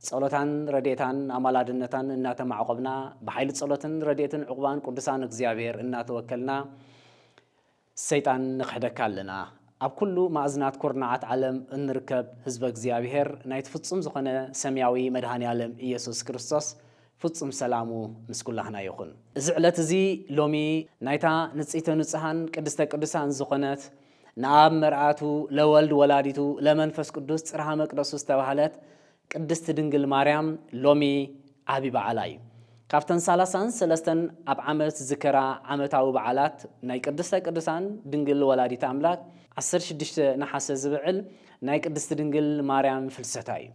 ጸሎታን ረድኤታን ኣማላድነታን እናተማዕቆብና ብሓይሊ ጸሎትን ረድኤትን ዕቑባን ቅዱሳን እግዚኣብሔር እናተወከልና ሰይጣን ንኽሕደካ ኣለና። ኣብ ኩሉ ማእዝናት ኩርናዓት ዓለም እንርከብ ህዝበ እግዚኣብሔር ናይቲ ፍጹም ዝኾነ ሰምያዊ መድኃኔዓለም ኢየሱስ ክርስቶስ ፍጹም ሰላሙ ምስ ኩላህና ይኹን። እዚ ዕለት እዚ ሎሚ ናይታ ንጽይተ ንጹሃን ቅድስተ ቅዱሳን ዝኾነት ንኣብ መርኣቱ ለወልድ ወላዲቱ ለመንፈስ ቅዱስ ጽርሃ መቅደሱ ዝተባህለት ቅድስቲ ድንግል ማርያም ሎሚ ዓቢ በዓላ እዩ። ካብተን ሳላሳን ሰለስተን ኣብ ዓመት ዝከራ ዓመታዊ በዓላት ናይ ቅድስተ ቅዱሳን ድንግል ወላዲት ኣምላክ ዓሰርተ ሽዱሽተ ነሓሰ ዝብዕል ናይ ቅድስቲ ድንግል ማርያም ፍልሰታ እዩ።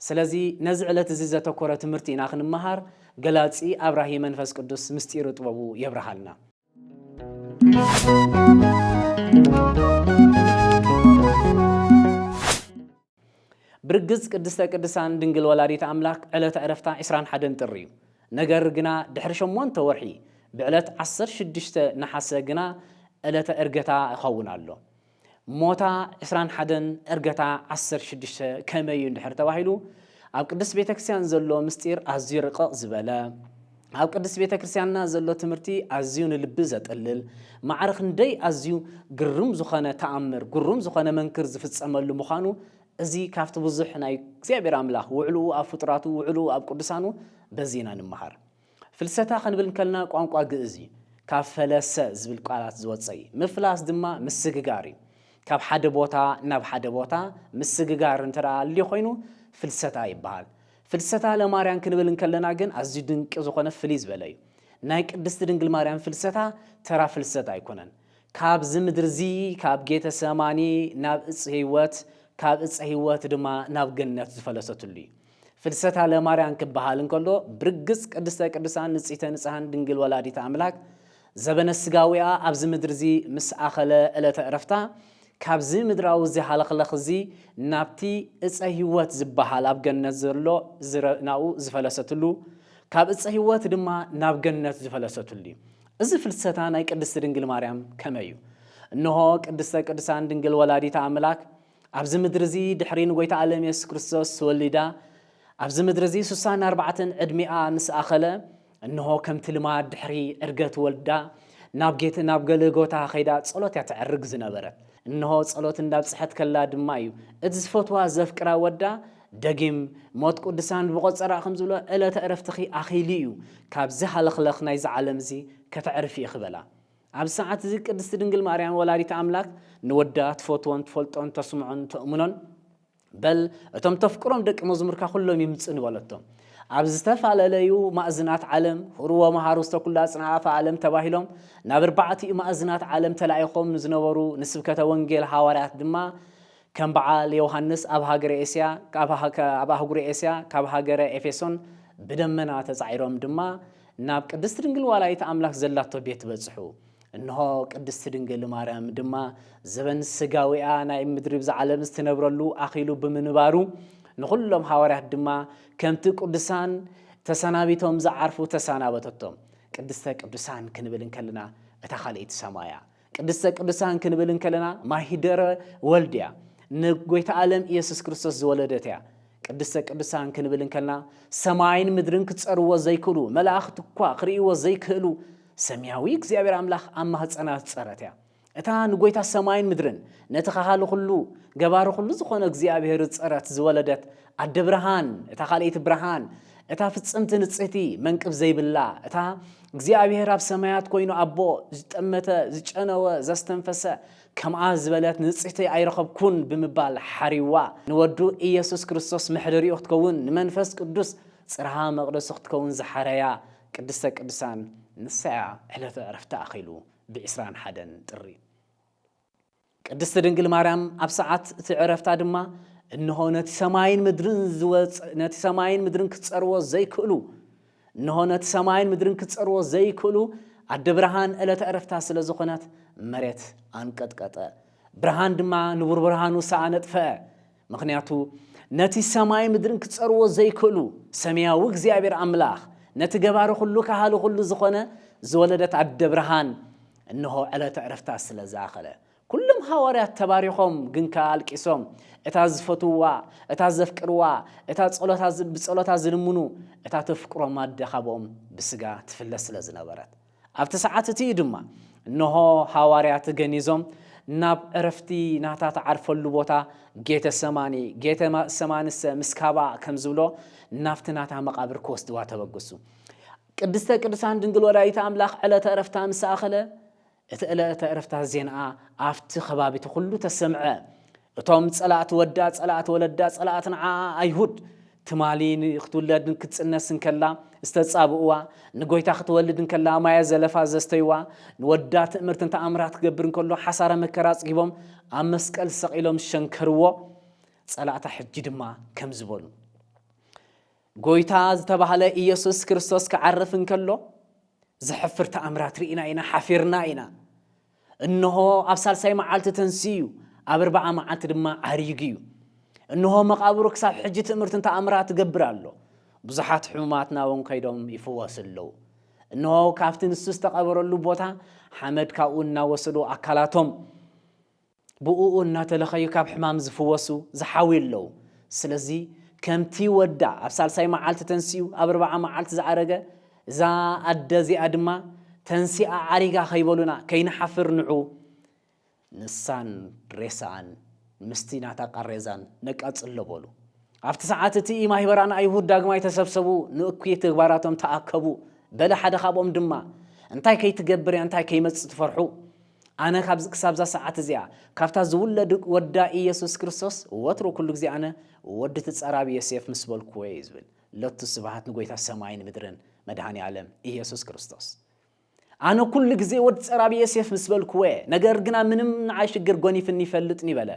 ስለዚ ነዚ ዕለት እዚ ዘተኮረ ትምህርቲ ኢና ክንመሃር ገላጺ ኣብራሂ መንፈስ ቅዱስ ምስጢሩ ጥበቡ የብርሃልና። ብርግጽ ቅድስተ ቅድሳን ድንግል ወላዲት ኣምላክ ዕለተ ዕረፍታ 21 ጥሪ እዩ። ነገር ግና ድሕሪ ሸሞንተ ወርሒ ብዕለት 16 ነሓሰ ግና ዕለተ እርገታ ይኸውን ኣሎ። ሞታ ዕስራን ሓደን ዕርገታ ዓሰርተ ሽዱሽተ ከመይ እዩ እንድሕር ተባሂሉ ኣብ ቅድስት ቤተ ክርስቲያን ዘሎ ምስጢር ኣዝዩ ርቕቕ ዝበለ ኣብ ቅድስት ቤተ ክርስቲያንና ዘሎ ትምህርቲ ኣዝዩ ንልቢ ዘጥልል ማዕረ ክንደይ ኣዝዩ ግርም ዝኾነ ተኣምር ግሩም ዝኾነ መንክር ዝፍጸመሉ ምዃኑ እዚ ካብቲ ብዙሕ ናይ እግዚኣብሔር ኣምላኽ ውዕልኡ ኣብ ፍጡራቱ ውዕልኡ ኣብ ቅዱሳኑ በዚ ኢና ንምሃር ፍልሰታ ክንብል እንከልና ቋንቋ ግእዝ እዩ። ካብ ፈለሰ ዝብል ቃላት ዝወጸ እዩ። ምፍላስ ድማ ምስግጋር እዩ። ካብ ሓደ ቦታ ናብ ሓደ ቦታ ምስግጋር እንተ ኣልዩ ኮይኑ ፍልሰታ ይበሃል። ፍልሰታ ለማርያም ክንብል እንከለና ግን ኣዝዩ ድንቂ ዝኾነ ፍልይ ዝበለ እዩ። ናይ ቅድስቲ ድንግል ማርያም ፍልሰታ ተራ ፍልሰት ኣይኮነን። ካብዚ ምድርዚ ካብ ጌተ ሰማኒ ናብ እጽ ህይወት ካብ እጸ ህይወት ድማ ናብ ገነት ዝፈለሰትሉ እዩ። ፍልሰታ ለማርያን ክበሃል እንከሎ ብርግጽ ቅድስተ ቅዱሳን ንጽህተ ንጽሃን ድንግል ወላዲተ ኣምላክ ዘበነ ስጋዊኣ ኣብዚ ምድሪ እዚ ምስ ኣኸለ ዕለተ ዕረፍታ ካብዚ ምድራዊ እዚ ሃለኽለኽ እዚ ናብቲ እጸ ሕይወት ዝበሃል ኣብ ገነት ዘሎ ናኡ ዝፈለሰትሉ ካብ እጸ ሕይወት ድማ ናብ ገነት ዝፈለሰትሉ እዩ። እዚ ፍልሰታ ናይ ቅድስቲ ድንግል ማርያም ከመይ እዩ? እንሆ ቅድስተ ቅዱሳን ድንግል ወላዲተ ኣምላክ ኣብዚ ምድሪ እዚ ድሕሪ ንጎይታ ኣለም የሱስ ክርስቶስ ተወሊዳ ኣብዚ ምድሪ እዚ ሱሳን ኣርባዕተን ዕድሚኣ ምስ ኣኸለ እንሆ ከምቲ ልማድ ድሕሪ ዕርገት ወልዳ ናብ ጌት ናብ ገለጎታ ከይዳ ጸሎት እያ ተዕርግ ዝነበረት እንሆ ጸሎት እንዳብጽሐት ከላ ድማ እዩ እቲ ዝፈትዋ ዘፍቅራ ወዳ ደጊም ሞት ቅዱሳን ብቆጸራ ከም ዝብሎ ዕለተ ዕረፍትኺ ኣኺሉ እዩ ካብዚ ሃለኽለኽ ናይዚ ዓለም እዚ ከተዕርፊ ኢኺ በላ ኣብዚ ሰዓት እዚ ቅድስቲ ድንግል ማርያም ወላዲተ ኣምላክ ንወዳ ትፈትዎን ትፈልጦን ተስምዖን ተእምኖን በል እቶም ተፍቅሮም ደቂ መዝሙርካ ኩሎም ይምጽ ንበለቶም ኣብ ዝተፋለለዩ ማእዝናት ዓለም ሁርዎ መሃሩ ዝተኩላ ጽንዓፈ ዓለም ተባሂሎም ናብ ኣርባዕቲኡ ማእዝናት ዓለም ተላኢኾም ንዝነበሩ ንስብከተ ወንጌል ሃዋርያት ድማ ከም በዓል ዮውሃንስ ኣብ ሃገረ ኤስያ ኣብ ኣህጉረ ኤስያ ካብ ሃገረ ኤፌሶን ብደመና ተጻዒሮም ድማ ናብ ቅድስቲ ድንግል ዋላይት ኣምላክ ዘላቶ ቤት በጽሑ። እንሆ ቅድስቲ ድንግል ማርያም ድማ ዘበን ስጋዊኣ ናይ ምድሪ ብዛ ዓለም ዝትነብረሉ ኣኺሉ ብምንባሩ ንኹሎም ሃዋርያት ድማ ከምቲ ቅዱሳን ተሰናቢቶም ዝዓርፉ ተሳናበተቶም። ቅድስተ ቅዱሳን ክንብል እንከልና እታ ካልእይቲ ሰማያ ቅድስተ ቅዱሳን ክንብል እንከለና ማሂደረ ወልድ እያ። ንጎይታ ኣለም ኢየሱስ ክርስቶስ ዝወለደት እያ። ቅድስተ ቅዱሳን ክንብል እንከልና ሰማይን ምድርን ክጸርዎ ዘይክእሉ መላእኽቲ እኳ ክርእይዎ ዘይክእሉ ሰማያዊ እግዚኣብሔር ኣምላኽ ኣብ ማህፀና ዝጸረት እያ። እታ ንጎይታ ሰማይን ምድርን ነቲ ካሃሊ ኩሉ ገባሪ ኩሉ ዝኾነ እግዚኣብሔር ዝፀረት ዝወለደት ኣደ ብርሃን እታ ካልኣይቲ ብርሃን እታ ፍፅምቲ ንፅህቲ መንቅብ ዘይብላ እታ እግዚኣብሔር ኣብ ሰማያት ኮይኑ ኣቦ ዝጠመተ ዝጨነወ ዘስተንፈሰ ከምኣ ዝበለት ንጽሕቲ ኣይረኸብኩን ብምባል ሓሪዋ ንወዱ ኢየሱስ ክርስቶስ መሕደሪኡ ክትከውን ንመንፈስ ቅዱስ ጽርሃ መቕደሱ ክትከውን ዝሓረያ ቅድስተ ቅዱሳን ንሳያ ዕለተ ዕረፍታ ኣኺሉ ብዕስራን ሓደን ጥሪ ቅድስት ድንግል ማርያም ኣብ ሰዓት እቲ ዕረፍታ ድማ እንሆ ነቲ ሰማይን ምድርን ዝወፅ ነቲ ሰማይን ምድርን ክፀርዎ ዘይክእሉ እንሆ ነቲ ሰማይን ምድርን ክፀርዎ ዘይክእሉ ኣደ ብርሃን ዕለተ ዕረፍታ ስለ ዝኾነት መሬት ኣንቀጥቀጠ ብርሃን ድማ ንቡር ብርሃኑ ሰኣነጥፈ ምኽንያቱ ነቲ ሰማይ ምድርን ክጸርዎ ዘይክእሉ ሰማያዊ እግዚኣብሔር ኣምላኽ ነቲ ገባሪ ኩሉ ካሃሊ ኩሉ ዝኾነ ዝወለደት ኣደ ብርሃን እንሆ ዕለተ ዕረፍታ ስለ ዝኣኸለ ኩሎም ሃዋርያት ተባሪኾም ግን ከኣ ኣልቂሶም እታ ዝፈትዋ እታ ዘፍቅርዋ እታ ብጸሎታ ዝልምኑ እታ ተፍቅሮም ኣደ ካብኦም ብስጋ ትፍለ ስለ ዝነበረት ኣብቲ ሰዓት እቲ እዩ ድማ እንሆ ሃዋርያት ገኒዞም ናብ ዕረፍቲ ናታ ተዓርፈሉ ቦታ ጌተ ሰማኒ ጌተ ሰማንሰ ምስ ካባኣ ከም ዝብሎ ናብቲ ናታ መቓብር ክወስድዋ ተበግሱ። ቅድስተ ቅዱሳን ድንግል ወላዲተ ኣምላኽ ዕለተ ዕረፍታ ምስ ኣኸለ እቲ ዕለተ ዕረፍታ ዜንኣ ኣብቲ ከባቢቲ ኩሉ ተሰምዐ። እቶም ጸላእቲ ወዳ ጸላእቲ ወለዳ ጸላእቲ ንዓኣ ኣይሁድ ትማሊ ክትውለድ ንክትጽነስ እንከላ ዝተጻብእዋ ንጎይታ ክትወልድ እንከላ ማየ ዘለፋ ዘስተይዋ ንወዳ ትእምርትን ተኣምራት ክገብር እንከሎ ሓሳረ መከራ ኣጽጊቦም ኣብ መስቀል ሰቒሎም ዝሸንከርዎ ጸላእታ ሕጂ ድማ ከም ዝበሉ ጎይታ ዝተባህለ ኢየሱስ ክርስቶስ ክዓርፍ እንከሎ ዘሕፍር ተኣምራት ርኢና ኢና ሓፊርና ኢና እንሆ ኣብ ሳልሳይ መዓልቲ ተንሲኡ፣ ኣብ ርብዓ መዓልቲ ድማ ዓሪጉ እዩ። እንሆ መቓብሩ ክሳብ ሕጂ ትእምርትን ተኣምራት ይገብር ኣሎ፣ ብዙሓት ሕሙማት ናብኦም ከይዶም ይፍወሱ ኣለዉ። እንሆ ካብቲ ንሱ ዝተቐበረሉ ቦታ ሓመድ ካብኡ እናወሰዱ ኣካላቶም ብእኡ እናተለኸዩ ካብ ሕማም ዝፍወሱ ዝሓውዩ ኣለዉ። ስለዚ ከምቲ ወዳ ኣብ ሳልሳይ መዓልቲ ተንሲኡ ኣብ ርብዓ መዓልቲ ዝኣረገ፣ እዛ ኣደ እዚኣ ድማ ተንሲኣ ዓሪጋ ከይበሉና ከይንሓፍር ንዑ ንሳን ሬሳኣን ምስቲ ናታ ቃሬዛን ነቃጽሎ በሉ። ኣብቲ ሰዓት እቲ ማህበራን ኣይሁድ ዳግማይ ተሰብሰቡ ንእኩይ ተግባራቶም ተኣከቡ በለ ሓደ ካብኦም ድማ እንታይ ከይትገብር እንታይ ከይመጽእ ትፈርሑ ኣነ ካብዚ ክሳብዛ ሰዓት እዚኣ ካብታ ዝውለድ ወዳ ኢየሱስ ክርስቶስ ወትሩ ኩሉ ግዜ ኣነ ወዲ ትጸራቢ ዮሴፍ ምስ በልኩዎ እዩ ዝብል ሎቱ ስብሃት ንጎይታ ሰማይን ምድርን መድሃኒ ኣለም ኢየሱስ ክርስቶስ ኣነ ኩሉ ግዜ ወድ ጸራቢ የሴፍ ምስ በልኩወ ነገር ግና ምንም ንዓይ ሽግር ጎኒፍኒ ይፈልጥኒ በለ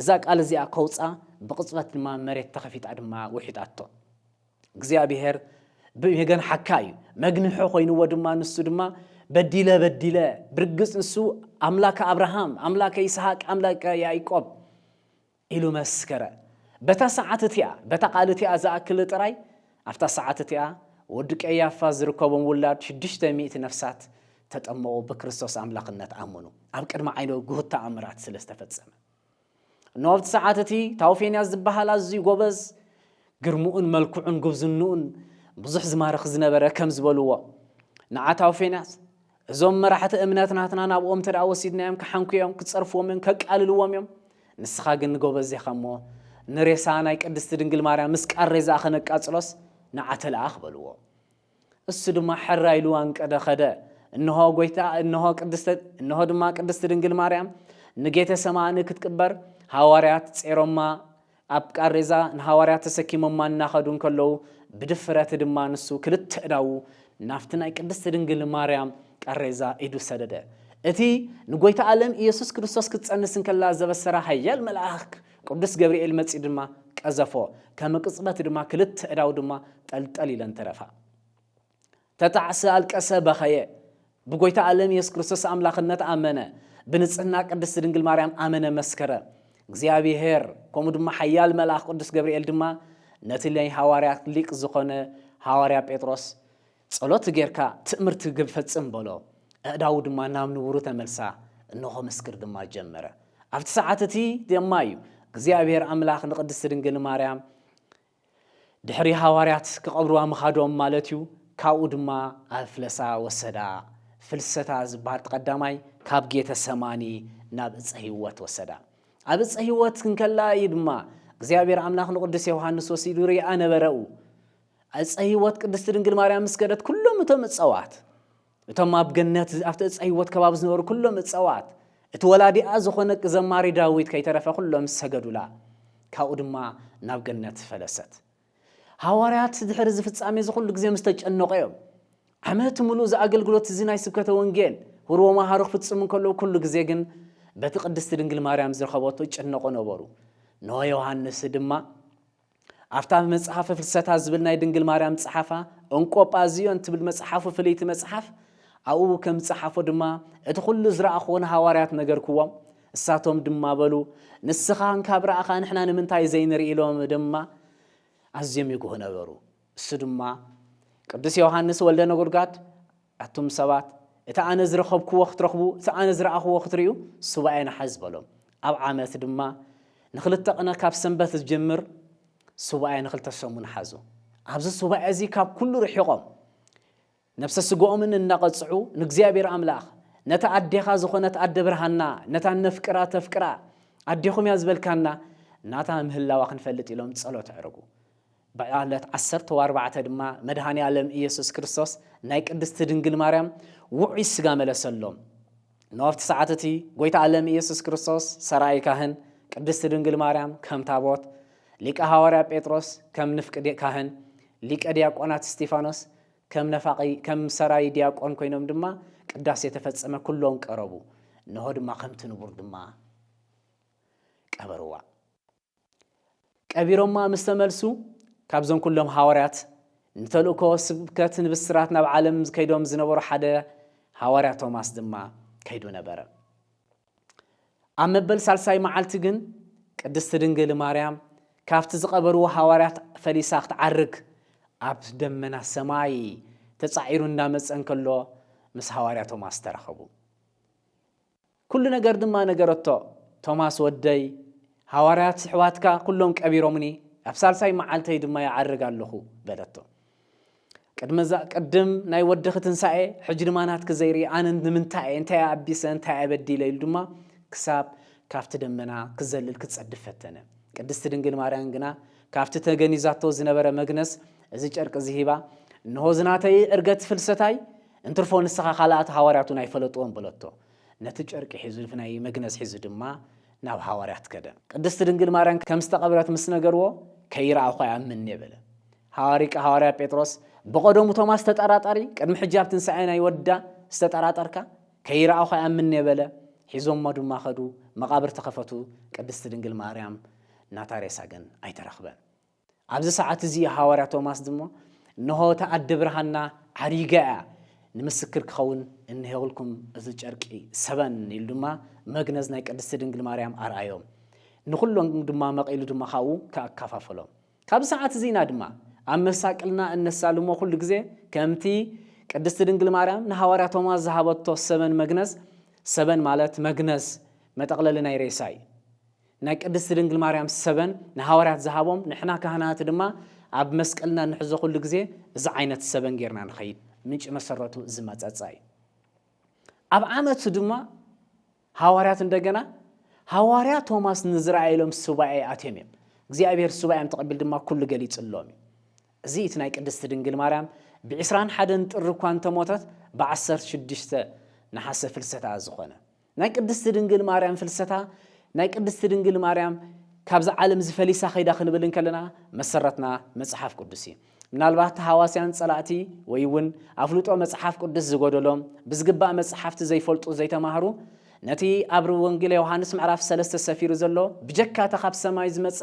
እዛ ቃል እዚኣ ከውጻ ብቕጽበት ድማ መሬት ተኸፊጣ ድማ ውሒጣቶ እግዚኣብሔር ብገን ሓካ እዩ መግንሖ ኮይንዎ ድማ ንሱ ድማ በዲለ በዲለ ብርግጽ ንሱ ኣምላከ ኣብርሃም ኣምላከ ይስሐቅ ኣምላከ ያዕቆብ ኢሉ መስከረ። በታ ሰዓት እቲኣ፣ በታ ቃል እቲኣ ዝኣክል ጥራይ፣ ኣብታ ሰዓት እቲኣ፣ ወዲ ቀያፋ ዝርከቦም ውላድ ሽዱሽተ ሚእቲ ነፍሳት ተጠመቑ፣ ብክርስቶስ ኣምላኽነት ኣመኑ፣ ኣብ ቅድሚ ዓይኖ ግሁድ ተኣምራት ስለ ዝተፈጸመ። እነሆ ኣብቲ ሰዓት እቲ፣ ታውፌንያስ ዝበሃል ኣዝዩ ጎበዝ፣ ግርምኡን መልክዑን ጉብዝንኡን ብዙሕ ዝማርኽ ዝነበረ ከም ዝበልዎ፣ ንዓ ታውፌንያስ፣ እዞም መራሕቲ እምነት ናትና ናብኦም እንተ ወሲድናዮም ክሓንኩ እዮም፣ ክጸርፍዎም እዮም፣ ከቃልልዎም እዮም። ንስኻ ግን ጎበዝ ዲኻ እሞ ንሬሳ ናይ ቅድስቲ ድንግል ማርያም ምስ ቃሬዛኣ ከነቃጽሎስ ንዓ ተለኣኽ በልዎ። እሱ ድማ ሕራይ ኢሉ ኣንቀደ ኸደ። እንሆ ጎይታ እንሆ ቅድስተ እንሆ ድማ ቅድስቲ ድንግል ማርያም ንጌተ ሰማኒ ክትቅበር ሃዋርያት ጼሮማ ኣብ ቃሬዛ ንሃዋርያት ተሰኪሞማ እናኸዱ እንከለዉ ብድፍረት ድማ ንሱ ክልተ ኣእዳዉ ናብቲ ናይ ቅድስት ድንግል ማርያም ቃሬዛ ኢዱ ሰደደ። እቲ ንጎይታ ኣለም ኢየሱስ ክርስቶስ ክትጸንስ እንከላ ዘበሰራ ኃያል መልኣክ ቅዱስ ገብርኤል መጺኡ ድማ ቀዘፎ። ከመ ቅጽበት ድማ ክልተ ኣእዳዉ ድማ ጠልጠል ኢለን ተረፋ። ተጣዕሰ ኣልቀሰ በኸየ። ብጎይታ ኣለም የሱስ ክርስቶስ ኣምላኽነት ኣመነ። ብንጽህና ቅድስቲ ድንግል ማርያም ኣመነ መስከረ። እግዚኣብሔር ከምኡ ድማ ሓያል መልኣኽ ቅዱስ ገብርኤል ድማ ነቲ ናይ ሃዋርያት ሊቅ ዝኾነ ሃዋርያ ጴጥሮስ ጸሎት ጌርካ ትእምርቲ ግብ ፈጽም በሎ። ኣእዳዉ ድማ ናብ ንቡሩ ተመልሳ እንሆ ምስክር ድማ ጀመረ። ኣብቲ ሰዓት እቲ ድማ እዩ እግዚኣብሔር ኣምላኽ ንቅድስቲ ድንግል ማርያም ድሕሪ ሃዋርያት ክቐብርዋ ምኻዶም ማለት እዩ፣ ካብኡ ድማ ኣብ ፍለሳ ወሰዳ፣ ፍልሰታ ዝበሃል እቲ ቀዳማይ፣ ካብ ጌተ ሰማኒ ናብ እፀ ህይወት ወሰዳ። ኣብ እፀ ህይወት እንከላ እዩ ድማ እግዚኣብሔር ኣምላኽ ንቅዱስ ዮውሃንስ ወሲዱ ርኣ ነበረኡ። እፀ ህይወት ቅድስቲ ድንግል ማርያም ምስ ከደት ኩሎም እቶም እፀዋት እቶም ኣብ ገነት ኣብቲ ዕፀ ህይወት ከባቢ ዝነበሩ ኩሎም እፀዋት እቲ ወላዲኣ ዝኾነ ዘማሪ ዳዊት ከይተረፈ ኩሎም ሰገዱላ ካብኡ ድማ ናብ ገነት ፈለሰት ሃዋርያት ድሕሪ እዚ ፍጻሜ እዚ ኩሉ ግዜ ምስ ተጨነቑ እዮም ዓመት ምሉእ እዚ ኣገልግሎት እዚ ናይ ስብከተ ወንጌል ህርቦ መሃሩ ክፍጽሙ እንከለዉ ኩሉ ግዜ ግን በቲ ቅድስቲ ድንግል ማርያም ዝረኸበቶ ይጨነቑ ነበሩ ንሆ ዮሃንስ ድማ ኣብታ መጽሓፈ ፍልሰታ ዝብል ናይ ድንግል ማርያም ዝጸሓፋ እንቆጳዝዮን ትብል መጽሓፉ ፍልይቲ መጽሓፍ ኣብኡ ከም ዝጸሓፎ ድማ እቲ ዅሉ ዝረኣኽዎ ንሃዋርያት ነገርክዎም፣ እሳቶም ድማ በሉ ንስኻ እንካብ ረኣኻ ንሕና ንምንታይ ዘይንርኢ ኢሎም ድማ ኣዝዮም ይጉሁ ነበሩ። እሱ ድማ ቅዱስ ዮሃንስ ወልደ ነጎድጓድ ኣቱም ሰባት፣ እቲ ኣነ ዝረኸብክዎ ኽትረኽቡ፣ እቲ ኣነ ዝረኣኽዎ ኽትርእዩ፣ ሱባኤ ንሓዝ በሎም። ኣብ ዓመት ድማ ንኽልተ ቕነ ካብ ሰንበት ዝጅምር ሱባኤ ንኽልተ ሰሙን ሓዙ። ኣብዚ ሱባኤ እዚ ካብ ኵሉ ርሒቖም፣ ነፍሰ ስግኦምን እናቐጽዑ፣ ንእግዚኣብሄር ኣምላኽ፣ ነታ ኣዴኻ ዝዀነት ኣደ ብርሃንና፣ ነታ እነፍቅራ እተፍቅራ ኣዴኹም እያ ዝበልካና፣ ናታ ምህላዋ ኽንፈልጥ ኢሎም ጸሎት ኣዕርጉ። ብዕለት ዓሰርተው ኣርባዕተ ድማ መድኃኔዓለም ኢየሱስ ክርስቶስ ናይ ቅድስቲ ድንግል ማርያም ውዑይ ሥጋ መለሰሎም። እነሆ ኣብቲ ሰዓት እቲ ጐይታ ዓለም ኢየሱስ ክርስቶስ ሠራዪ ካህን፣ ቅድስቲ ድንግል ማርያም ከም ታቦት፣ ሊቀ ሐዋርያ ጴጥሮስ ከም ንፍቅ ካህን፣ ሊቀ ዲያቆናት እስጢፋኖስ ከም ነፋቂ ከም ሠራዪ ዲያቆን ኮይኖም ድማ ቅዳሴ ተፈጸመ ኩሎም ቀረቡ። እነሆ ድማ ከምቲ ንቡር ድማ ቀበርዋ። ቀቢሮማ ምስ ተመልሱ ካብዞም ኩሎም ሃዋርያት ንተልእኮ ስብከት ንብስራት ናብ ዓለም ከይዶም ዝነበሩ ሓደ ሃዋርያ ቶማስ ድማ ከይዱ ነበረ። ኣብ መበል ሳልሳይ መዓልቲ ግን ቅድስቲ ድንግል ማርያም ካብቲ ዝቐበርዎ ሃዋርያት ፈሊሳ ክትዓርግ ኣብ ደመና ሰማይ ተጻዒሩ እንዳመጸ እንከሎ ምስ ሃዋርያ ቶማስ ተራኸቡ። ኩሉ ነገር ድማ ነገረቶ። ቶማስ ወደይ፣ ሃዋርያት ስሕባትካ ኩሎም ቀቢሮምኒ፣ ኣብ ሳልሳይ መዓልተይ ድማ ይዓርግ ኣሎኹ በለቶ። ቅድመዛ ቅድም ናይ ወድኺ ትንሳኤ ሕጂ ድማ ናትኪ ዘይርኢ ኣነ ንምንታይ እየ እንታይ ኣቢሰ እንታይ ኣበዲለ ኢሉ ድማ ክሳብ ካብቲ ደመና ክዘልል ክጸድፍ ፈተነ። ቅድስቲ ድንግል ማርያም ግና ካብቲ ተገኒዛቶ ዝነበረ መግነዝ እዚ ጨርቂ እዚ ሂባ እንሆ ዝናተይ ዕርገት ፍልሰታይ እንትርፎ ንስኻ ካልኣት ሃዋርያት እውን ኣይፈለጥዎን በለቶ። ነቲ ጨርቂ ሒዙ ናይ መግነዝ ሒዙ ድማ ናብ ሃዋርያት ከደ። ቅድስት ድንግል ማርያም ከም ዝተቐብረት ምስ ነገርዎ ከይረኣኹ ኣይኣምንን'የ በለ። ሃዋሪቅ ሃዋርያ ጴጥሮስ ብቐደሙ ቶማስ ተጠራጣሪ ቅድሚ ሕጂ ኣብ ትንሳኤ ናይ ወዳ ዝተጠራጠርካ ከይረኣኹ ኣይኣምንን'የ በለ። ሒዞሞ ድማ ከዱ መቓብር ተኸፈቱ ቅድስት ድንግል ማርያም ናታ ሬሳ ግን ኣይተረኽበን። ኣብዚ ሰዓት እዚ ሃዋርያ ቶማስ ድማ እንሆ እታ ኣደ ብርሃንና ዓሪጋ እያ ንምስክር ክኸውን እንሄውልኩም እዚ ጨርቂ ሰበን ኢሉ ድማ መግነዝ ናይ ቅድስቲ ድንግል ማርያም ኣርኣዮም ንኹሎም ድማ መቒሉ ድማ ካብኡ ከኣካፋፈሎም ካብ ሰዓት እዚና ድማ ኣብ መሳቅልና እነሳልሞ ኩሉ ግዜ ከምቲ ቅድስቲ ድንግል ማርያም ንሃዋርያ ቶማስ ዝሃበቶ ሰበን መግነዝ ሰበን ማለት መግነዝ መጠቕለሊ ናይ ሬሳ እዩ ናይ ቅድስቲ ድንግል ማርያም ሰበን ንሃዋርያት ዝሃቦም ንሕና ካህናት ድማ ኣብ መስቀልና እንሕዞ ኩሉ ግዜ እዚ ዓይነት ሰበን ጌርና ንኸይድ ምንጪ መሰረቱ እዚ መጸጻ እዩ ኣብ ዓመቱ ድማ ሃዋርያት እንደገና ሃዋርያ ቶማስ ንዝረኣየሎም ሱባኤ ኣትዮም እዮም እግዚኣብሔር ሱባኤም ተቐቢል ድማ ኩሉ ገሊጽሎም እዩ እዚ እቲ ናይ ቅድስቲ ድንግል ማርያም ብዕስራን ሓደን ጥሪ እኳ እንተሞተት ብዓሰርተ ሽዱሽተ ነሓሰ ፍልሰታ ዝኾነ ናይ ቅድስቲ ድንግል ማርያም ፍልሰታ ናይ ቅድስቲ ድንግል ማርያም ካብዚ ዓለም እዚ ፈሊሳ ከይዳ ክንብል እንከለና መሰረትና መጽሓፍ ቅዱስ እዩ። ምናልባት ተሃዋስያን ጸላእቲ ወይ እውን ኣፍልጦ መጽሓፍ ቅዱስ ዝጎደሎም ብዝግባእ መጽሓፍቲ ዘይፈልጡ ዘይተማህሩ ነቲ ኣብ ወንጌል ዮሃንስ ምዕራፍ ሰለስተ ሰፊሩ ዘሎ ብጀካ እታ ካብ ሰማይ ዝመጸ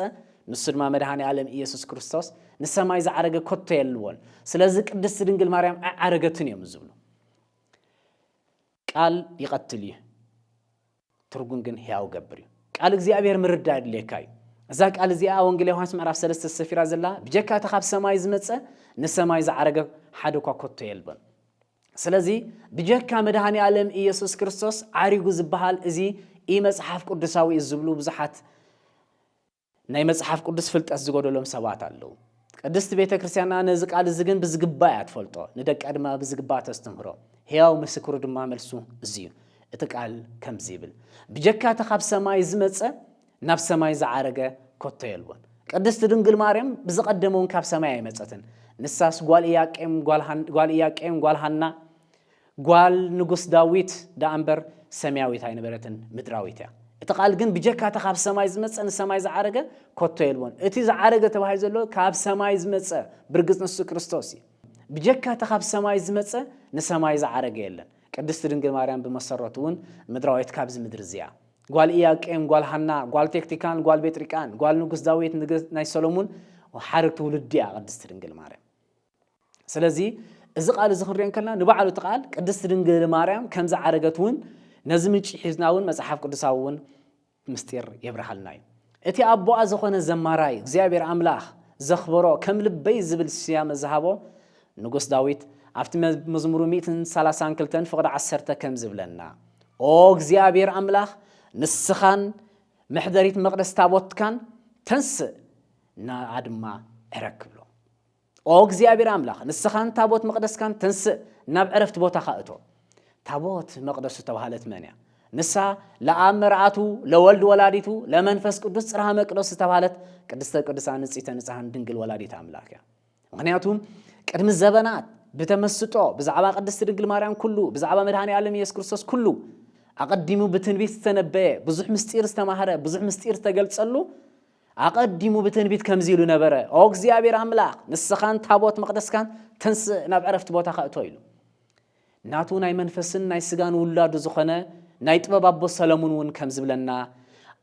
ንሱ ድማ መድሃኒ ኣለም ኢየሱስ ክርስቶስ ንሰማይ ዝዓረገ ኮቶ የልዎን ስለዚ ቅድስቲ ድንግል ማርያም ኣይዓረገትን እዮም ዝብሉ ቃል ይቐትል እዩ ትርጉም ግን ሕያው ገብር እዩ። ቃል እግዚኣብሔር ምርዳ የድልየካ እዩ። እዛ ቃል እዚኣ ወንጌል ዮሃንስ ምዕራፍ ሰለስተ ሰፊራ ዘላ ብጀካ እቲ ካብ ሰማይ ዝመፀ ንሰማይ ዝዓረገ ሓደ እኳ ኮቶ የልበን። ስለዚ ብጀካ መድሃኒ ኣለም ኢየሱስ ክርስቶስ ዓሪጉ ዝበሃል እዚ ኢ መጽሓፍ ቅዱሳዊ እዩ ዝብሉ ብዙሓት ናይ መጽሓፍ ቅዱስ ፍልጠት ዝጎደሎም ሰባት ኣለዉ። ቅድስት ቤተ ክርስቲያንና ነዚ ቃል እዚ ግን ብዝግባእ እያ ትፈልጦ፣ ንደቃ ድማ ብዝግባእ ተስትምህሮ። ሕያው ምስክሩ ድማ መልሱ እዚ እዩ። እቲ ቃል ከምዚ ይብል፣ ብጀካ እቲ ካብ ሰማይ ዝመጸ ናብ ሰማይ ዝዓረገ ከቶ የልቦን። ቅድስት ድንግል ማርያም ብዝቐደመ እውን ካብ ሰማይ ኣይመጸትን። ንሳስ ጓል ኢያቄም ጓል ኢያቄም ጓል ሃና ጓል ንጉስ ዳዊት ደኣ እምበር ሰምያዊት ኣይነበረትን፣ ምድራዊት እያ። እቲ ቓል ግን ብጀካ እቲ ኻብ ሰማይ ዝመጸ ንሰማይ ዝዓረገ ከቶ የልቦን። እቲ ዝዓረገ ተባሂሉ ዘሎ ካብ ሰማይ ዝመጸ ብርግጽ ንሱ ክርስቶስ እዩ። ብጀካ እቲ ኻብ ሰማይ ዝመጸ ንሰማይ ዝዓረገ የለን። ቅድስቲ ድንግል ማርያም ብመሰረቱ እውን ምድራዊት ካብዚ ምድሪ እዚ እያ። ጓል ኢያቄም፣ ጓል ሃና፣ ጓል ቴክቲካን፣ ጓል ቤጥሪቃን፣ ጓል ንጉስ ዳዊት፣ ናይ ሰሎሙን ሓረግ ትውልዲ እያ ቅድስቲ ድንግል ማርያም። ስለዚ እዚ ቃል እዚ ክንሪኦ እንከለና ንባዕሉ እቲ ቃል ቅድስቲ ድንግል ማርያም ከም ዝዓረገት እውን ነዚ ምንጪ ሒዝና እውን መጽሓፍ ቅዱሳዊ እውን ምስጢር የብርሃልና እዩ እቲ ኣቦኣ ዝኾነ ዘማራይ እግዚኣብሔር ኣምላኽ ዘኽበሮ ከም ልበይ ዝብል ስያመ ዝሃቦ ንጉስ ዳዊት ኣብቲ መዝሙሩ 132 ፍቕዲ ዓሰርተ ከም ዝብለና ኦ እግዚኣብሔር ኣምላኽ ንስኻን መሕደሪት መቕደስ ታቦትካን ተንስእ ንኣ ድማ ዕረግ ክብሎ ኦ እግዚኣብሔር ኣምላኽ ንስኻን ታቦት መቕደስካን ተንስእ ናብ ዕረፍቲ ቦታኻ እቶ። ታቦት መቕደስ ዝተባህለት መን እያ? ንሳ ለኣብ መርኣቱ ለወልድ ወላዲቱ ለመንፈስ ቅዱስ ጽርሃ መቅደስ ዝተባህለት ቅድስተ ቅዱሳን ንጽሕተ ንጽሕን ድንግል ወላዲት ኣምላክ እያ። ምክንያቱ ቅድሚ ዘበናት ብተመስጦ ብዛዕባ ቅድስቲ ድንግል ማርያም ኩሉ ብዛዕባ መድሃኒ ዓለም ኢየሱስ ክርስቶስ ኩሉ ኣቐዲሙ ብትንቢት ዝተነበየ ብዙሕ ምስጢር ዝተማህረ ብዙሕ ምስጢር ዝተገልጸሉ ኣቐዲሙ ብትንቢት ከምዚ ኢሉ ነበረ፣ ኦ እግዚኣብሔር ኣምላኽ፣ ንስኻን ታቦት መቕደስካን ተንስእ፣ ናብ ዕረፍቲ ቦታኻ እቶ ኢሉ። ናቱ ናይ መንፈስን ናይ ስጋን ውላዱ ዝኾነ ናይ ጥበብ ኣቦ ሰለሙን እውን ከም ዝብለና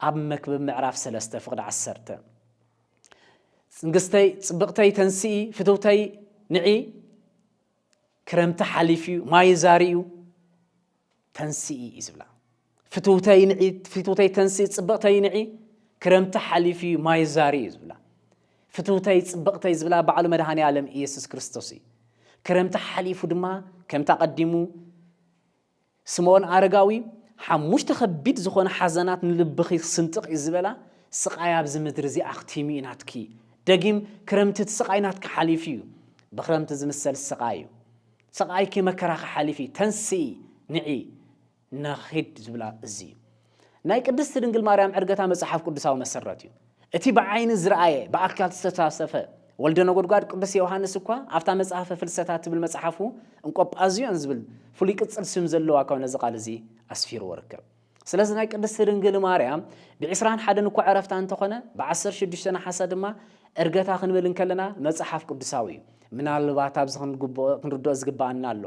ኣብ መክብብ ምዕራፍ ሰለስተ ፍቕዲ ዓሰርተ ጽንግስተይ ጽብቕተይ ተንስኢ ፍትውተይ ንዒ ክረምቲ ሓሊፍ እዩ ማይ ዛሪ እዩ ተንስኢ እዩ ዝብላ ፍትውተይ ንዒ ፍትውተይ ተንስኢ ፅብቕተይ ንዒ ክረምቲ ሓሊፉ እዩ ማይ ዛሪ እዩ ዝብላ ፍትውተይ ፅብቕተይ ዝብላ ባዕሉ መድሃኒ ኣለም ኢየሱስ ክርስቶስ እዩ ክረምቲ ሓሊፉ ድማ ከምቲ ኣቐዲሙ ስምኦን ኣረጋዊ ሓሙሽተ ከቢድ ዝኾነ ሓዘናት ንልብኺ ክስንጥቕ እዩ ዝበላ ስቓይ ኣብዚ ምድሪ እዚ ኣኽቲሙ እዩ ናትኪ ደጊም ክረምቲ እቲ ስቓይ ናትኪ ሓሊፉ እዩ ብክረምቲ ዝምሰል ስቓይ እዩ ስቓይኪ መከራኺ ሓሊፊ ተንስኢ ንዒ ንኺድ ዝብላ እዚ እዩ። ናይ ቅድስቲ ድንግል ማርያም ዕርገታ መጽሓፍ ቅዱሳዊ መሰረት እዩ። እቲ ብዓይኒ ዝርኣየ ብኣካል ዝተሳተፈ ወልደ ነጎድጓድ ቅዱስ ዮውሃንስ እኳ ኣብታ መጽሐፈ ፍልሰታ እትብል መጽሓፉ እንቆጳዝዮን ዝብል ፍሉይ ቅጽል ስም ዘለዋ እኳ ነዚ ቃል እዚ ኣስፊርዎ ይርከብ። ስለዚ ናይ ቅድስቲ ድንግል ማርያም ብዕስራን ሓደን እኳ ዕረፍታ እንተኾነ ብዓሰርተ ሽዱሽተ ነሓሰ ድማ ዕርገታ ክንብል እንከለና መጽሓፍ ቅዱሳዊ እዩ። ምናልባት ኣብዚ ክንግብኦ ክንርድኦ ዝግብኣና ኣሎ።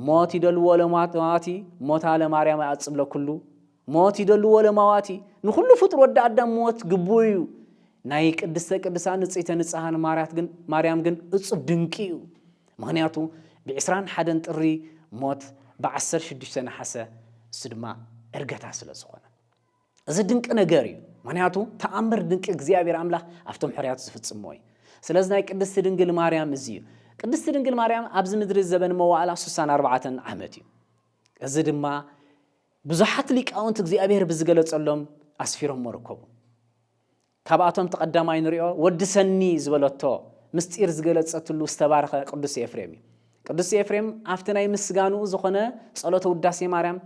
ሞት ይደልዎ ለማዋቲ ሞታ ለማርያም ኣጽብለ ኩሉ ሞት ይደልዎ ለማዋቲ ንኹሉ ፍጡር ወዲ ኣዳም ሞት ግቡ እዩ። ናይ ቅድስተ ቅዱሳን ንጽሕተ ንጽሃን ማርያት ግን ማርያም ግን እጹብ ድንቂ እዩ። ምኽንያቱ ብዕስራን ሓደን ጥሪ ሞት ብዓሰርተ ሽዱሽተ ነሓሰ እሱ ድማ እርገታ ስለ ዝኾነ እዚ ድንቂ ነገር እዩ ምክንያቱ ተኣምር ድንቂ እግዚኣብሔር ኣምላኽ ኣብቶም ሕርያቱ ዝፍጽሞ እዩ ስለዚ ናይ ቅድስቲ ድንግል ማርያም እዚ እዩ ቅድስቲ ድንግል ማርያም ኣብዚ ምድሪ ዘበን መዋእላ ስሳን ኣርባዕተን ዓመት እዩ እዚ ድማ ብዙሓት ሊቃውንቲ እግዚኣብሔር ብዝገለጸሎም ኣስፊሮሞ ርከቡ ካብኣቶም እቲ ቀዳማይ ንሪኦ ወድሰኒ ዝበለቶ ምስጢር ዝገለጸትሉ ዝተባረኸ ቅዱስ ኤፍሬም እዩ። ቅዱስ ኤፍሬም ኣብቲ ናይ ምስጋንኡ ዝኾነ ጸሎተ ውዳሴ ማርያም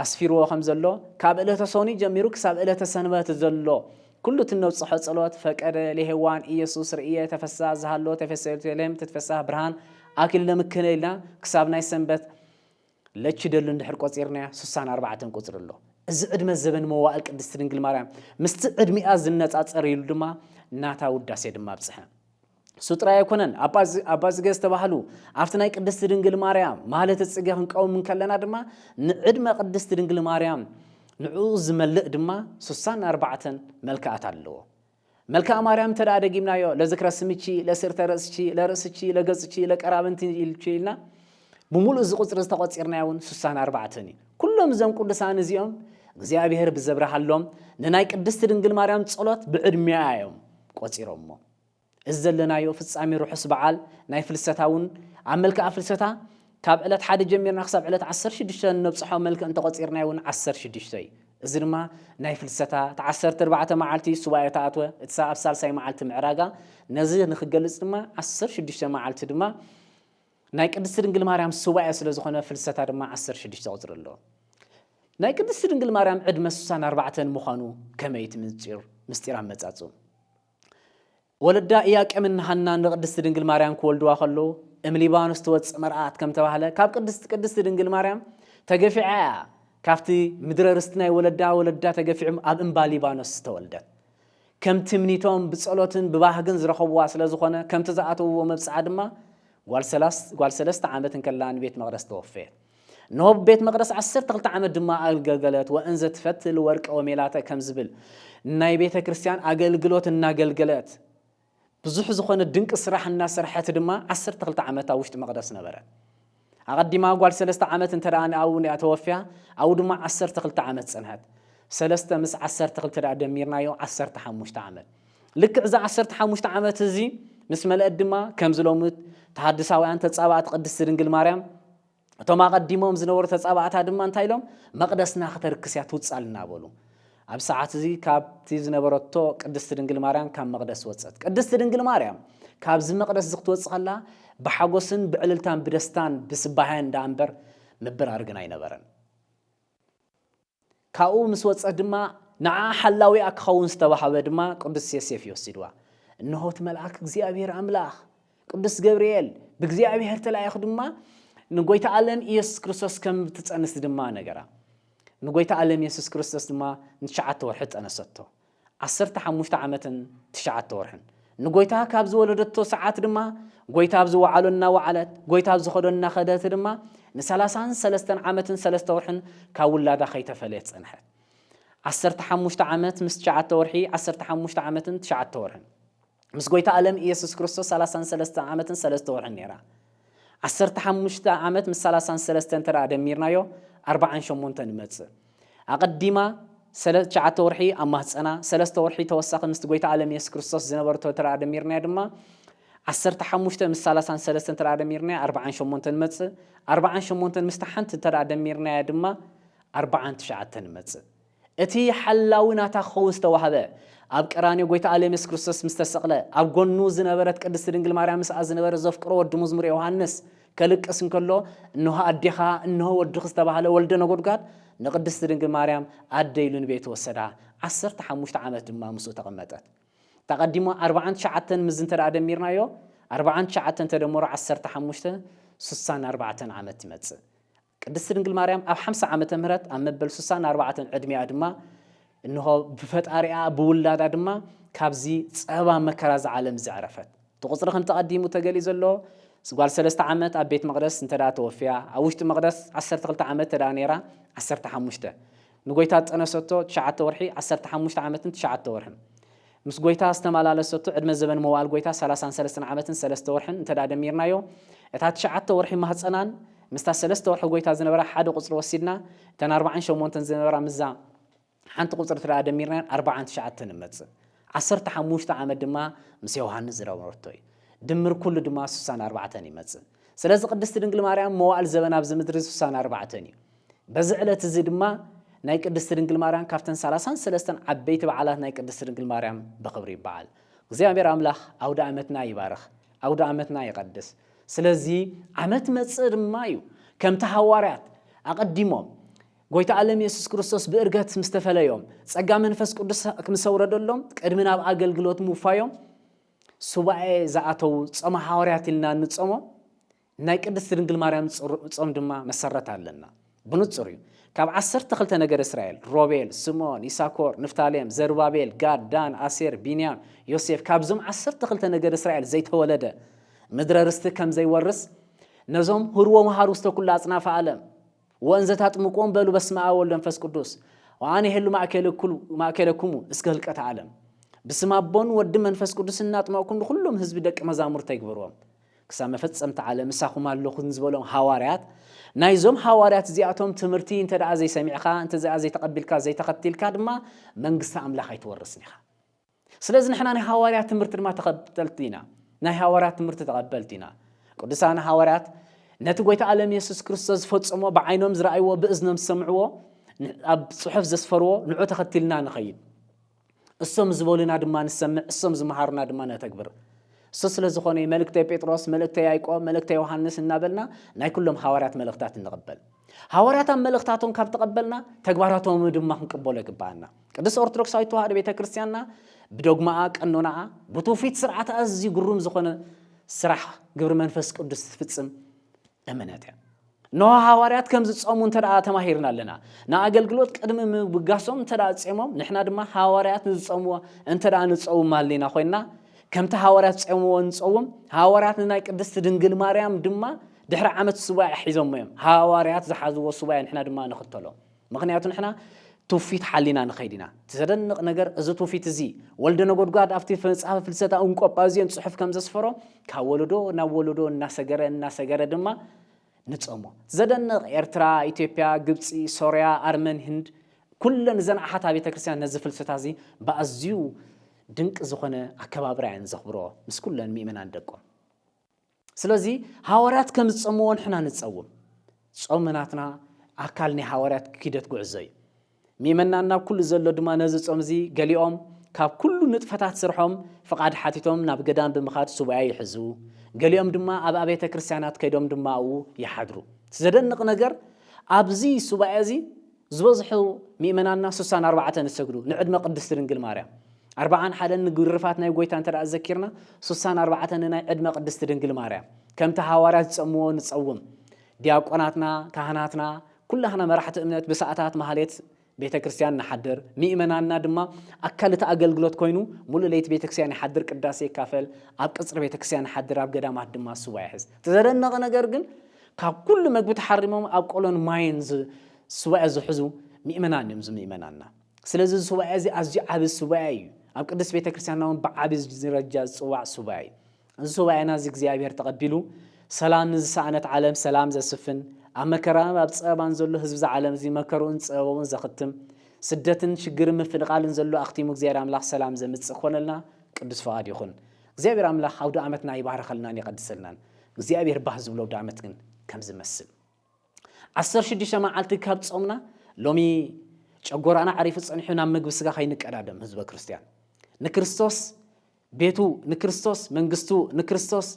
ኣስፊርዎ ከም ዘሎ ካብ ዕለተ ሶኒ ጀሚሩ ክሳብ ዕለተ ሰንበት ዘሎ ኩሉ እቲ እነብጽሖ ጸሎት ፈቀደ ለሔዋን ኢየሱስ ርእየ ተፈሳ ዝሃሎ ተፈሰ ቤተልሔም ትትፈሳህ ብርሃን ኣክሊለ ምክነ ኢልና ክሳብ ናይ ሰንበት ለቺ ደሉ እንድሕር ቆጺርናያ ስሳን ኣርባዕተን ቁጽሪ ኣሎ። እዚ ዕድመ ዘበን መዋእል ቅድስቲ ድንግል ማርያም ምስቲ ዕድሚኣ ዝነጻጸር ኢሉ ድማ ናታ ውዳሴ ድማ ኣብጽሐ። እሱ ጥራይ ኣይኮነን ኣባ ጽገ ዝተባህሉ ኣብቲ ናይ ቅድስቲ ድንግል ማርያም ማለት ጽገ ክንቀውም እንከለና ድማ ንዕድመ ቅድስቲ ድንግል ማርያም ንዕኡ ዝመልእ ድማ ስሳን ኣርባዕተን መልክኣት ኣለዎ። መልክኣ ማርያም እንተ ደጊምናዮ ለዝክረ ስምቺ፣ ለስርተ ርእስቺ፣ ለርእስቺ፣ ለገጽቺ፣ ለቀራብንቲ ኢልቺ ኢልና ብምሉኡ እዚ ቁጽሪ ዝተቆጺርናዮ እውን ስሳን ኣርባዕተን እዩ። ኩሎም እዞም ቅዱሳን እዚኦም እግዚኣብሔር ብዘብርሃሎም ንናይ ቅድስቲ ድንግል ማርያም ጸሎት ብዕድሜኣ እዮም ቆጺሮሞ። እዚ ዘለናዮ ፍጻሜ ርሑስ በዓል ናይ ፍልሰታ እውን ኣብ መልክኣ ፍልሰታ ካብ ዕለት ሓደ ጀሚርና ክሳብ ዕለት ዓሰርተ ሽዱሽተ እነብጽሖ መልክዕ እንተ ቈጺርናዮ እውን ዓሰርተ ሽዱሽተ እዩ። እዚ ድማ ናይ ፍልሰታ እቲ ዓሰርተ ኣርባዕተ መዓልቲ ሱባኤ ተኣትወ፣ እቲ ኣብ ሳልሳይ መዓልቲ ምዕራጋ፣ ነዚ ንኽገልጽ ድማ ዓሰርተ ሽዱሽተ መዓልቲ ድማ ናይ ቅድስቲ ድንግል ማርያም ሱባኤ ስለ ዝኾነ ፍልሰታ ድማ ዓሰርተ ሽዱሽተ ቁጽሪ ኣሎ። ናይ ቅድስቲ ድንግል ማርያም ዕድመ ስሳን ኣርባዕተን ምዃኑ ከመይ እቲ ምንጺር ምስጢር ኣመጻጽኡ? ወለዳ ኢያቄምን ሃናን ንቅድስቲ ድንግል ማርያም ክወልድዋ ከለዉ እም ሊባኖስ ትወጽእ መርኣት ከም ተባህለ ካብ ቅድስቲ ቅድስቲ ድንግል ማርያም ተገፊዓ ኢያ ካብቲ ምድረ ርስቲ ናይ ወለዳ ወለዳ ተገፊዑም ኣብ እምባ ሊባኖስ ዝተወልደት ከም ትምኒቶም ብጸሎትን ብባህግን ዝረኸብዋ ስለ ዝኾነ ከምቲ ዝኣተውዎ መብጽዓ ድማ ጓል ሰለስተ ዓመት እንከላ ንቤት መቅደስ ተወፈየት። ኖብ ቤት መቕደስ ዓሰርተ ክልተ ዓመት ድማ ኣገልገለት። ወእንዘ ትፈትል ወርቀ ወሜላተ ከም ዝብል ናይ ቤተ ክርስቲያን ኣገልግሎት እናገልገለት ብዙሕ ዝኾነ ድንቂ ስራሕ እናሰርሐት ድማ ዓሰርተ ክልተ ዓመት ኣብ ውሽጢ መቕደስ ነበረት። ኣቐዲማ ጓል ሰለስተ ዓመት እንተ ደኣ ንኣብኡ ንኣ ተወፍያ ኣብኡ ድማ ዓሰርተ ክልተ ዓመት ጸንሐት ሰለስተ ምስ ዓሰርተ ክልተ ደኣ ደሚርናዮ ዓሰርተ ሓሙሽተ ዓመት ልክዕ እዚ ዓሰርተ ሓሙሽተ ዓመት እዚ ምስ መለአት ድማ ከምዚ ሎሚ ተሃድሳውያን ተጻባእቲ ቅድስቲ ድንግል ማርያም እቶም ኣቐዲሞም ዝነበሩ ተጻባእታ ድማ እንታይ ኢሎም መቕደስና ክተርክስ እያ ትውጻልና በሉ ኣብ ሰዓት እዚ ካብቲ ዝነበረቶ ቅድስቲ ድንግል ማርያም ካብ መቕደስ ወጸት ቅድስቲ ድንግል ማርያም ካብዚ መቕደስ እዚ ክትወጽእ ከላ ብሓጎስን ብዕልልታን ብደስታን ብስባህያን ዳኣ እምበር ምብራር ግን ኣይነበረን ካብኡ ምስ ወጸት ድማ ንዓኣ ሓላዊኣ ክኸውን ዝተዋህበ ድማ ቅዱስ ዮሴፍ እዩ ወሲድዋ። እንሆ እቲ መልኣክ እግዚኣብሔር ኣምላኽ ቅዱስ ገብርኤል ብእግዚኣብሔር ተላኢኹ ድማ ንጎይታ ኣለም ኢየሱስ ክርስቶስ ከም እትጸንስ ድማ ነገራ። ንጎይታ ኣለም ኢየሱስ ክርስቶስ ድማ ንትሽዓተ ወርሒ ጸነሰቶ። ዓሰርተ ሓሙሽተ ዓመትን ትሽዓተ ወርሕን። ንጐይታ ካብ ዝወለደቶ ሰዓት ድማ ጐይታ ኣብ ዝወዓሎ እናወዓለት፣ ጐይታ ኣብ ዝኸዶ እናኸደት ድማ ንሰላሳን ሰለስተን ዓመትን ሰለስተ ወርሕን ካብ ውላዳ ኸይተፈለየት ጸንሐት። ዓሰርተ ሓሙሽተ ዓመት ምስ ትሽዓተ ወርሒ፣ ዓሰርተ ሓሙሽተ ዓመትን ትሽዓተ ወርሕን። ምስ ጎይታ ኣለም ኢየሱስ ክርስቶስ ሰላሳን ሰለስተ ዓመትን ሰለስተ ወርሕን ነይራ። ዓሰርተ ሓሙሽተ ዓመት ምስ ሰላሳን ሰለስተ እንተ ደሚርናዮ ኣርባዓን ሸሞንተን ይመጽእ። ኣቐዲማ ሰለ ትሽዓተ ወርሒ ኣብ ማህጸና፣ ሰለስተ ወርሒ ተወሳኺ ምስቲ ጎይታ ኣለም ኢየሱስ ክርስቶስ ዝነበርቶ እንተ ደሚርናዮ ድማ ዓሰርተ ሓሙሽተ ምስ ሰላሳን ሰለስተ እንተ ደሚርናዮ ኣርባዓን ሸሞንተን ይመጽእ። ኣርባዓን ሸሞንተን ምስቲ ሓንቲ እንተ ደሚርናያ ድማ ኣርባዓን ትሽዓተን ይመጽእ። እቲ ሓላዊ ናታ ክኸውን ዝተዋህበ፣ ኣብ ቀራንዮ ጎይታኣ ለምስ ክርስቶስ ምስ ተሰቕለ፣ ኣብ ጎኑ ዝነበረት ቅድስቲ ድንግል ማርያም ምስኣ ዝነበረ ዘፍቅሮ ወዲ ሙዝሙር ዮውሃንስ ከልቅስ እንከሎ እንሆ ኣዴኻ እንሆ ወድኺ ዝተባህለ ወልደ ነጎድጓድ ንቅድስቲ ድንግል ማርያም ኣደ ኢሉ ንቤቱ ወሰዳ ዓሰርተ ሓሙሽተ ዓመት ድማ ምስኡ ተቐመጠት ተቐዲሞ ኣርብዓን ትሽዓተን ምዚ እንተ ደሚርናዮ ኣርብዓን ትሽዓተን ተደመሮ ዓሰርተ ሓሙሽተ ስሳን ኣርባዕተን ዓመት ይመጽእ ቅድስቲ ድንግል ማርያም ኣብ ሓምሳ ዓመተ ምህረት ኣብ መበል ሱሳን ኣርባዕተን ዕድሜኣ ድማ እንሆ ብፈጣሪኣ ብውላዳ ድማ ካብዚ ጸባ መከራ እዚ ዓለም እዚ ዕረፈት። እቲ ቁጽሪ ከምቲ ኣቀዲሙ ተገሊጹ ዘሎ ጓል ሰለስተ ዓመት ኣብ ቤት መቅደስ እንተ ተወፍያ ኣብ ውሽጢ መቅደስ ዓሰርተ ክልተ ዓመት እንተ ነይራ ዓሰርተ ሓሙሽተ ንጐይታ ዝጠነሰቶ ትሽዓተ ወርሒ ዓሰርተ ሓሙሽተ ዓመትን ትሽዓተ ወርሕን፣ ምስ ጐይታ ዝተማላለሰቶ ዕድመ ዘበን መዋእል ጐይታ ሰላሳን ሰለስተን ዓመትን ሰለስተ ወርሕን እንተድኣ ደሚርናዮ፣ እታ ትሽዓተ ወርሒ ማህጸናን ምስታ ሰለስተ ወርሒ ጐይታ ዝነበራ ሓደ ቁጽሪ ወሲድና፣ እተን ኣርባዓን ሸሞንተን ዝነበራ ምስዛ ሓንቲ ቁጽሪ እንተድኣ ደሚርናየን ኣርባዓን ትሽዓተን ንመጽእ። ዓሰርተ ሓሙሽተ ዓመት ድማ ምስ ዮሃንስ ዝነበረቶ እዩ። ድምር ኩሉ ድማ ስሳን ኣርባዕተን ይመጽእ። ስለዚ ቅድስቲ ድንግል ማርያም መዋእል ዘበና ኣብዚ ምድሪ ስሳን ኣርባዕተን እዩ። በዚ ዕለት እዚ ድማ ናይ ቅድስቲ ድንግል ማርያም ካብተን ሰላሳን ሰለስተን ዓበይቲ በዓላት ናይ ቅድስቲ ድንግል ማርያም ብኽብሪ ይበዓል። እግዚኣብሔር ኣምላኽ ኣውደ ዓመትና ይባርኽ፣ ኣውደ ዓመትና ይቐድስ። ስለዚ ዓመት መጽእ ድማ እዩ ከምቲ ሃዋርያት ኣቐዲሞም ጎይታ ኣለም የሱስ ክርስቶስ ብእርገት ምስ ተፈለዮም ጸጋ መንፈስ ቅዱስ ምስ ኣውረደሎም ቅድሚ ናብ ኣገልግሎት ምውፋዮም ሱባኤ ዝኣተዉ ጾመ ሓዋርያት ኢልና እንጾሞ ናይ ቅድስት ድንግል ማርያም ጾም ድማ መሰረት ኣለና። ብንጹር እዩ። ካብ ዓሰርተ ክልተ ነገድ እስራኤል፣ ሮቤል፣ ስምኦን፣ ይሳኮር፣ ንፍታሌም፣ ዘሩባቤል፣ ጋድ፣ ዳን፣ ኣሴር፣ ቢንያም፣ ዮሴፍ፣ ካብዞም ዓሰርተ ክልተ ነገድ እስራኤል ዘይተወለደ ምድረ ርስቲ ከም ዘይወርስ ነዞም ህርዎ መሃሩ ውስተ ኩሉ ኣጽናፈ ዓለም ወእንዘ ታጥምቁዎም በሉ በስመ አብ ወወልድ ወመንፈስ ቅዱስ ወአነ እሄሉ ማእከለክሙ እስከ ህልቀተ ዓለም ብስም ኣቦን ወድን መንፈስ ቅዱስ እናጥመቕኩም ንኹሎም ህዝቢ ደቂ መዛሙርተ ይግበርዎም። ክሳብ መፈጸምታ ዓለም ምሳኹም ኣሎኹ ንዝበሎም ሃዋርያት፣ ናይዞም ሃዋርያት እዚኣቶም ትምህርቲ እንተ ደኣ ዘይሰሚዕካ፣ እንተ ደኣ ዘይተቐቢልካ፣ ዘይተኸቲልካ ድማ መንግስቲ ኣምላኽ ኣይትወርስን ኢኻ። ስለዚ ንሕና ናይ ሃዋርያት ትምህርቲ ድማ ተኸተልቲ ኢና። ናይ ሃዋርያት ትምህርቲ ተቐበልቲ ኢና። ቅዱሳን ሃዋርያት ነቲ ጐይታ ኣለም የሱስ ክርስቶስ ዝፈጽሞ ብዓይኖም ዝረኣይዎ ብእዝኖም ዝሰምዕዎ ኣብ ጽሑፍ ዘስፈርዎ ንዑ ተኸቲልና ንኸይድ እሶም ዝበሉና ድማ ንሰምዕ፣ እሶም ዝመሃሩና ድማ ነተግብር። እሱ ስለ ዝኾነ እዩ መልእክተ ጴጥሮስ፣ መልእክተ ያዕቆብ፣ መልእክተ ዮሃንስ እናበልና ናይ ኩሎም ሃዋርያት መልእኽታት እንቕበል። ሃዋርያት ኣብ መልእኽታቶም ካብ ተቐበልና ተግባራቶም ድማ ክንቅበሎ ይግብኣና። ቅድስት ኦርቶዶክሳዊት ተዋህዶ ቤተ ክርስቲያንና ብዶግማኣ፣ ቀኖናኣ፣ ብትውፊት ስርዓት ኣዝዩ ግሩም ዝኾነ ስራሕ ግብሪ መንፈስ ቅዱስ ትፍጽም እምነት እያ። እነሆ ሃዋርያት ከም ዝጸሙ እንተ ተማሂርና ኣለና። ንኣገልግሎት ቅድሚ ምብጋሶም እንተ ጼሞም፣ ንሕና ድማ ሃዋርያት ንዝጸምዎ እንተ ንጸውም ሃሊና ኮይንና፣ ከምቲ ሃዋርያት ጼምዎ ንጸውም። ሃዋርያት ንናይ ቅድስቲ ድንግል ማርያም ድማ ድሕሪ ዓመት ሱባኤ ሒዞሞ እዮም። ሃዋርያት ዝሓዝዎ ሱባኤ ንሕና ድማ ንኽተሎ። ምኽንያቱ ንሕና ትውፊት ሓሊና ንኸይድ ኢና። እቲ ዘደንቕ ነገር እዚ ትውፊት እዚ ወልደ ነጎድጓድ ኣብቲ መጽሐፈ ፍልሰታ እንቆጳዝዮን ጽሑፍ ከም ዘስፈሮ ካብ ወለዶ ናብ ወለዶ እናሰገረ እናሰገረ ድማ ንጸሞ። ዘደንቕ ኤርትራ፣ ኢትዮጵያ፣ ግብጺ፣ ሶርያ፣ ኣርመን፣ ህንድ ኩለን እዘን ኣሓት ኣብያተ ክርስቲያን ነዚ ፍልሰታ እዚ ብኣዝዩ ድንቂ ዝኾነ ኣከባብራ እየን ዘኽብሮ ምስ ኩለን ምእመናን ደቆም። ስለዚ ሃዋርያት ከም ዝጸምዎ ንሕና ንጸውም። ጾም ናትና ኣካል ናይ ሃዋርያት ኪደት ጉዕዞ እዩ። ሚመናን ናብ ኩሉ ዘሎ ድማ ነዚ ጾም እዚ ገሊኦም ካብ ኩሉ ንጥፈታት ስርሖም ፍቓድ ሓቲቶም ናብ ገዳም ብምኻድ ሱባኤ ይሕዙ፣ ገሊኦም ድማ ኣብ ኣብያተ ክርስቲያናት ከይዶም ድማ ኣብኡ ይሓድሩ። ዘደንቕ ነገር ኣብዚ ሱባኤ እዚ ዝበዝሑ ምእመናንና ሱሳን ኣርባዕተን ዝሰግዱ ንዕድመ ቅድስት ድንግል ማርያም ኣርብዓን ሓደን ንግርፋት ናይ ጐይታ እንተ ኣዘኪርና ሱሳን ኣርባዕተን ንናይ ዕድመ ቅድስት ድንግል ማርያም ከምቲ ሃዋርያት ዝጸምዎ ንጸውም ዲያቆናትና ካህናትና ኩላህና መራሕቲ እምነት ብሰዓታት ማህሌት ቤተ ክርስቲያን ንሓድር ምእመናንና ድማ ኣካል እቲ ኣገልግሎት ኮይኑ ሙሉእ ለይቲ ቤተ ክርስቲያን ይሓድር ቅዳሴ ይካፈል ኣብ ቅጽሪ ቤተ ክርስቲያን ይሓድር ኣብ ገዳማት ድማ ስዋ ይሕዝ እቲ ዘደነቐ ነገር ግን ካብ ኩሉ መግቢ ተሓሪሞም ኣብ ቆሎን ማይን ሱባኤ ዝሕዙ ምእመናን እዮም እዚ ምእመናንና። ስለዚ እዚ ሱባኤ እዚ ኣዝዩ ዓቢ ሱባኤ እዩ። ኣብ ቅድስት ቤተ ክርስቲያንና እውን ብዓቢ ዝረጃ ዝጽዋዕ ሱባኤ እዩ። እዚ ሱባኤና እዚ እግዚኣብሔር ተቐቢሉ ሰላም ንዝሰኣነት ዓለም ሰላም ዘስፍን፣ ኣብ መከራን ኣብ ጸበባን ዘሎ ህዝቢ እዛ ዓለም እዚ መከርኡን ጸበባኡን ዘኽትም፣ ስደትን ሽግርን ምፍንቓልን ዘሎ ኣኽቲሙ እግዚኣብሔር ኣምላኽ ሰላም ዘምጽእ ክኾነልና ቅዱስ ፍቓድ ይኹን። እግዚኣብሔር ኣምላክ ኣውደኣመትና ይባርኸልናን ይቀድሰልናን እግዚኣብሔር ባህ ዝብሎ ኣውደኣመት ግን ከምዚ መስል ዓሰርተ ሽዱሽተ መዓልቲ ካብ ጾምና ሎሚ ጨጎራና ዓሪፉ ጸኒሑ ናብ ምግቢ ስጋ ከይንቀዳደም ህዝበ ክርስትያን ንክርስቶስ ቤቱ ንክርስቶስ መንግስቱ ንክርስቶስ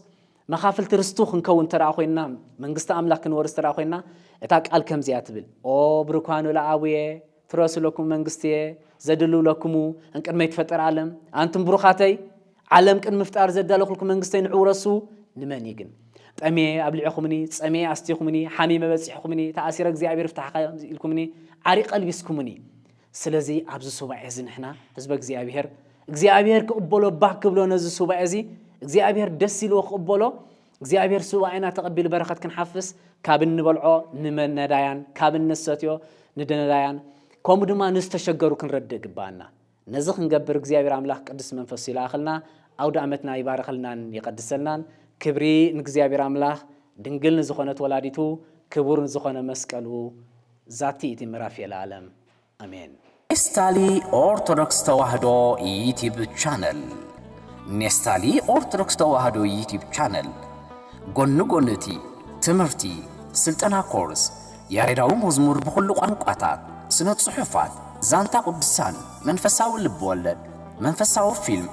መኻፍልቲ ርስቱ ክንከውን እንተ ኮይንና መንግስቲ ኣምላክ ክንወርስ እንተ ኮይንና እታ ቃል ከምዚያ ትብል ኦ ብርኳኑ ለኣቡየ ፍረሱ ለኩም መንግስትየ ዘድልው ለክሙ እንቅድመ ይትፈጠር ዓለም ኣንቱም ብሩኻተይ ዓለም ቅን ምፍጣር ዘዳለኹልኩ መንግስተይ ንዑ ረሱ ንመን እዩ ግን ጠሜ ኣብሊዕኹምኒ ፀሜ ኣስቲኹምኒ ሓሚመ በፂሕኹምኒ ተኣሲረ እግዚኣብሔር ፍታሕካ ኢልኩምኒ ዓሪ ቀልቢስኩምኒ ስለዚ ኣብዚ ሱባኤ እዚ ንሕና ህዝበ እግዚኣብሔር እግዚኣብሔር ክቕበሎ ባህ ክብሎ ነዚ ሱባኤ እዚ እግዚኣብሔር ደስ ኢልዎ ክቕበሎ እግዚኣብሔር ሱባኤና ተቐቢሉ በረኸት ክንሓፍስ ካብ እንበልዖ ንነዳያን ካብ እንሰትዮ ንደነዳያን ከምኡ ድማ ንዝተሸገሩ ክንረድእ ግባኣና ነዚ ክንገብር እግዚኣብሔር ኣምላኽ ቅዱስ መንፈሱ ይልኣኸልና ኣውደ ኣመትና ይባርኸልናን ይቐድሰልናን ክብሪ ንእግዚኣብሔር ኣምላኽ ድንግል ንዝኾነት ወላዲቱ ክቡር ንዝኾነ መስቀሉ ዛቲ እቲ ምዕራፍ የለኣለም ኣሜን። ኔስታሊ ኦርቶዶክስ ተዋህዶ ዩቲብ ቻነል ኔስታሊ ኦርቶዶክስ ተዋህዶ ዩቲብ ቻነል ጎኒ ጎኒ እቲ ትምህርቲ፣ ስልጠና ኮርስ፣ ያሬዳዊ መዝሙር ብኹሉ ቋንቋታት፣ ስነ ጽሑፋት፣ ዛንታ ቅዱሳን፣ መንፈሳዊ ልብ ወለድ፣ መንፈሳዊ ፊልም፣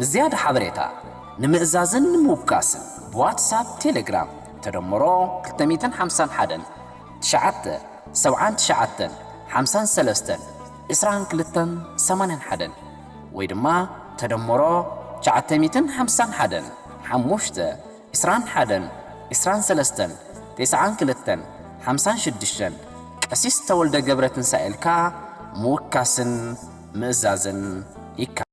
ንዝያዳ ሓበሬታ፣ ንምእዛዝን ንምውካስን ብዋትሳፕ፣ ቴሌግራም፣ ተደምሮ ክልተ ሚእትን ሓምሳን ሓደን፣ ትሽዓተ፣ ሰብዓን ትሽዓተን፣ ሓምሳን ሰለስተን፣ ዕስራን ክልተን፣ ሰማንያን ሓደን፣ ወይ ድማ ተደምሮ ትሽዓተ ሚእትን ሓምሳን ሓደን፣ ሓሙሽተ፣ ዕስራን ሓደን፣ ዕስራን ሰለስተን፣ ቴስዓን ክልተን፣ ሓምሳን ሽዱሽተን፣ ቀሲስ ተወልደ ገብረትንሳኤልካ ምውካስን ምእዛዝን ይከኣል።